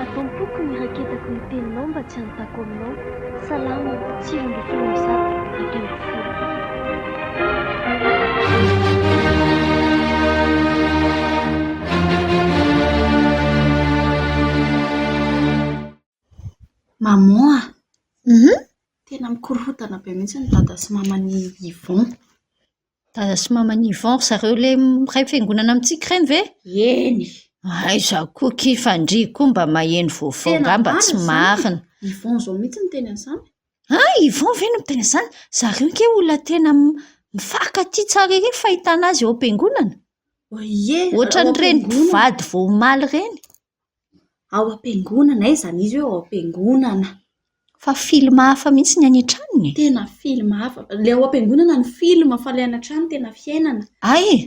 Ato am-poko ny raketako ny teninao mba tsy hanontako aminao, Salamo, sivy ambin'ny folo amby zato, ampy amby folo. Maman a! Hum! Tena mikorontana be mihitsy ny dada sy maman'i Yvon. Dada sy maman'i Yvon, ry zareo ilay iray fiangonana amintsika ireny ve? Eny! Aiza koa ki fa ndry koa mba maheno vaovao angamba tsy marina. Tena marina izany! Yvon izao mihitsy miteny an'izany. Ah! Yvon ve no miteny an'izany? Zareo ange olona tena mifankatia tsara ery ny fahitana azy eo am-piangonana. Oaie! Ohatran'ireny mpivady vao omaly ireny. Ao am-piangonana? Aiza an'izy hoe ao am-piangonana? Fa film hafa mihitsy ny any an-tranony e! Tena film hafa. Ilay ao am-piangonana no film fa ilay any an-trano tena fiainana. Hay e!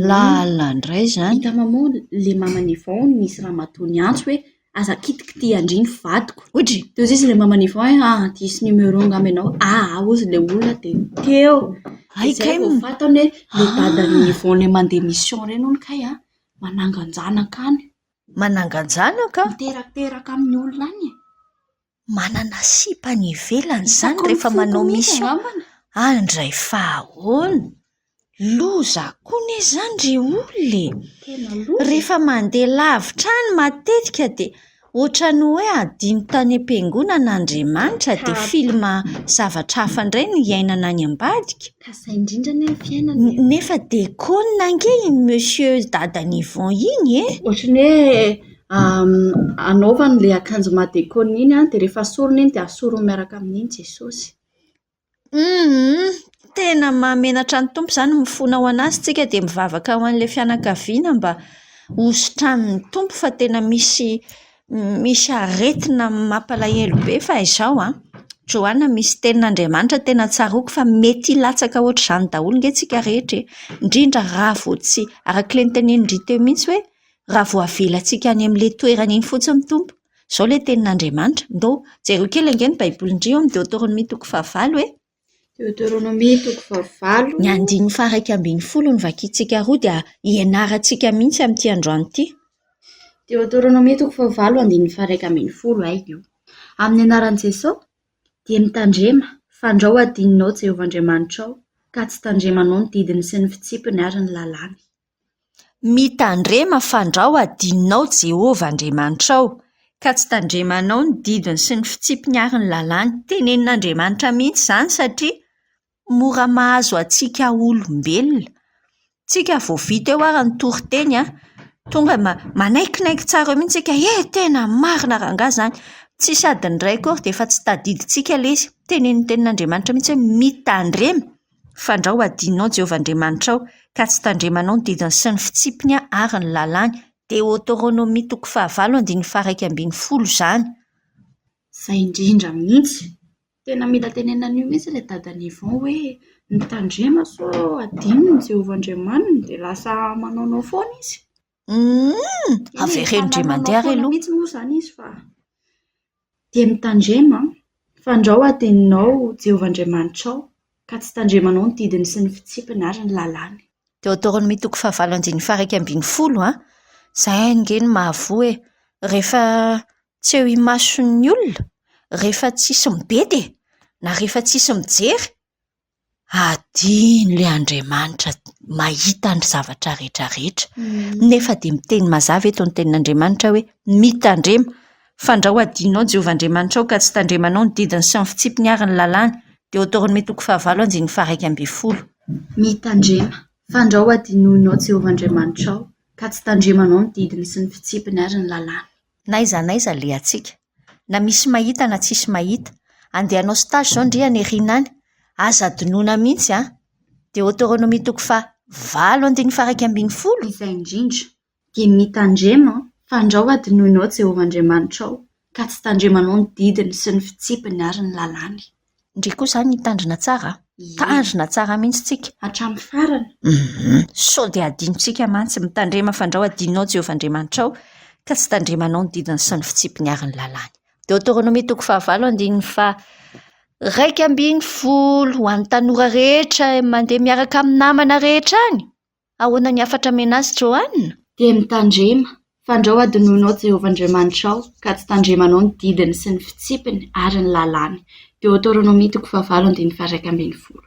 Lalina indray izany. Hitanao moa ilay maman'i Yvon hono nisy ramatoa niantso hoe aza kitikitihan-dry ny vadiko. Hoy dry. Teo izy ilay maman'i Yvon hoe ah diso numéro angamba ianao. Ah ah hozy ilay olona dia teo. Hay kay. Izay vao fantany hoe ilay dadan'i Yvon ilay mandeha mission ireny hono kay an! Manangan-janaka any. Manangan-janaka? Miterateraka amin'ny olona any e. Manana sipa any ivelany izany rehefa manao mission. Handray fahaona. Loza koa anie izany ry olona e. Tena loza e. Rehefa mandeha lavitra any matetika dia. Ohatran'ny hoe hadino tany am-piangonana Andriamanitra dia film zavatra hafa indray no iainana any ambadika. Ka zay indrindra anie ny fiainana e. Nefa dia konona ange iny Monsieur dadan'i Yvon iny e! Ohatran'ny hoe anaovany ilay akanjo madeconne iny dia rehefa asoriny iny dia asoriny miaraka amin'iny Jesosy. Humm tena mahamenatra ny Tompo izany mifona ho an'Azy tsika dia mivavaka ho an'ilay fianakaviana mba hosotranin'ny Tompo fa tena misy misy aretina mampalahelo be fa izao an, Joana misy tenin'Andriamanitra tena tsaroako fa mety hilatsaka ohatr'izany daholo nge tsika rehetra e, indrindra raha vao tsy, arak'ilay notenenin-dry teo mihintsy hoe raha vao avelantsika any amin'ilay toerana iny fotsiny ny Tompo. Izao ilay tenin'Andriamanitra. Ndao jereo kely ange ny Baibolin-dry ao amin'ny Deoteronomia toko fahavalo e. Deoteronomia toko fahavalo. Ny andininy faha-iraika ambin'ny folo no vakintsika roa dia hianarantsika mihitsy amin'ity androany ity. Deoteronomia toko fahavalo andininy faha-iraika ambin'ny folo, haidio. Amin'ny anaran'i Jesoa, dia mitandrema, fandrao adinonao Jehovah Andriamanitrao, ka tsy tandremanao ny didiny sy ny fitsipiny ary ny lalàny. Mitandrema fandrao adinonao Jehovah Andriamanitrao, ka tsy tandremanao ny didiny sy ny fitsipiny ary ny lalàny. Tenenin'Andriamanitra mihitsy izany satria mora mahazo antsika olombelona. Tsika vao vita eo ary ny toriteny an, tonga dia manaikinaiky tsara eo mihitsy isika, eh, tena marina rangahy izany, tsisy adiny iray akory dia efa tsy tadidintsika ilay izy. Tenenitenin'Andriamanitra mihitsy hoe mitandrema. Fandrao hadinonao Jehovah Andriamanitrao, ka tsy tandremanao ny didiny sy ny fitsipiny ary ny lalàny. Deoteronomia toko fahavalo andininy faharaika ambin'ny folo izany. Izay indrindra mihitsy. Tena mila tenenina an'io mihitsy ilay dadan'i Yvon hoe, mitandrema sao hadinon'i Jehovah Andriamaniny dia lasa manaonao foana izy. Humm! Avereno ndry mandeha ary aloha. Eny, mpanana manao foana mihitsy moa izany izy fa dia mitandrema an! Fandrao hadinonao Jehovah Andriamanitrao, ka tsy tandremanao ny didiny sy ny fitsipiny ary ny lalàny. Deoteronomia toko fahavalo andininy faha-iraika ambin'ny folo an! Izay ange no mahavoa e! Rehefa tsy eo imason'ny olona, rehefa tsisy mibedy e! Na rehefa tsisy mijery, hadino ilay Andriamanitra mahita ny zavatra rehetra rehetra nefa dia miteny mazava eto ny tenin'Andriamanitra hoe mitandrema fa andrao hadinonao Jehovah Andriamanitrao ka tsy tandremanao ny didiny sy ny fitsipiny ary ny lalàny. Deoteronomia toko fahavalo andininy faharaika ambin'ny folo. Mitandrema, fa andrao hadinoinao Jehovah Andriamanitrao ka tsy tandremanao ny didiny sy ny fitsipiny ary ny lalàny. N'aiza n'aiza alehantsika, na misy mahita na tsisy mahita. Andeha hanao stage izao ndry any aoriana any, aza adinoina mihitsy an! Deoteronomia toko faha valo andininy faha iraika ambin'ny folo. Izay indrindra, dia mitandrema fa andrao hadinoinao Jehovah Andriamanitrao, ka tsy tandremanao ny didiny sy ny fitsipiny ary ny lalàny. Ndry koa izany hitandrina tsara an! Ie. Tandrina tsara mihitsy tsika. Hatramin'ny farany. Humm. Sao dia hadinontsika mantsy. Mitandrema fandrao hadinonao Jehovah Andriamanitrao, ka tsy tandremanao ny didiny sy ny fitsipiny ary ny lalàny. Deoteronomia toko fahavalo andininy faharaika ambin'ny folo, Ho an'ny tanora rehetra mandeha miaraka amin'ny namana rehetra any. Ahoana ny hafatra menace Johanna? Dia mitandrema, fandrao hadinoina ao Jehovah Andriamanitrao, ka tsy tandremanao ny didiny sy ny fitsipiny ary ny lalàny. Deoteronomia toko fahavalo andininy faharaika ambin'ny folo.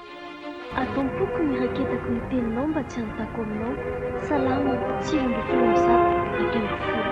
Ato am-poko ny raketako ny teninao mba tsy hanontako aminao, Salamo, sivy ambin'ny folo amby zato, dimy ambin'ny folo.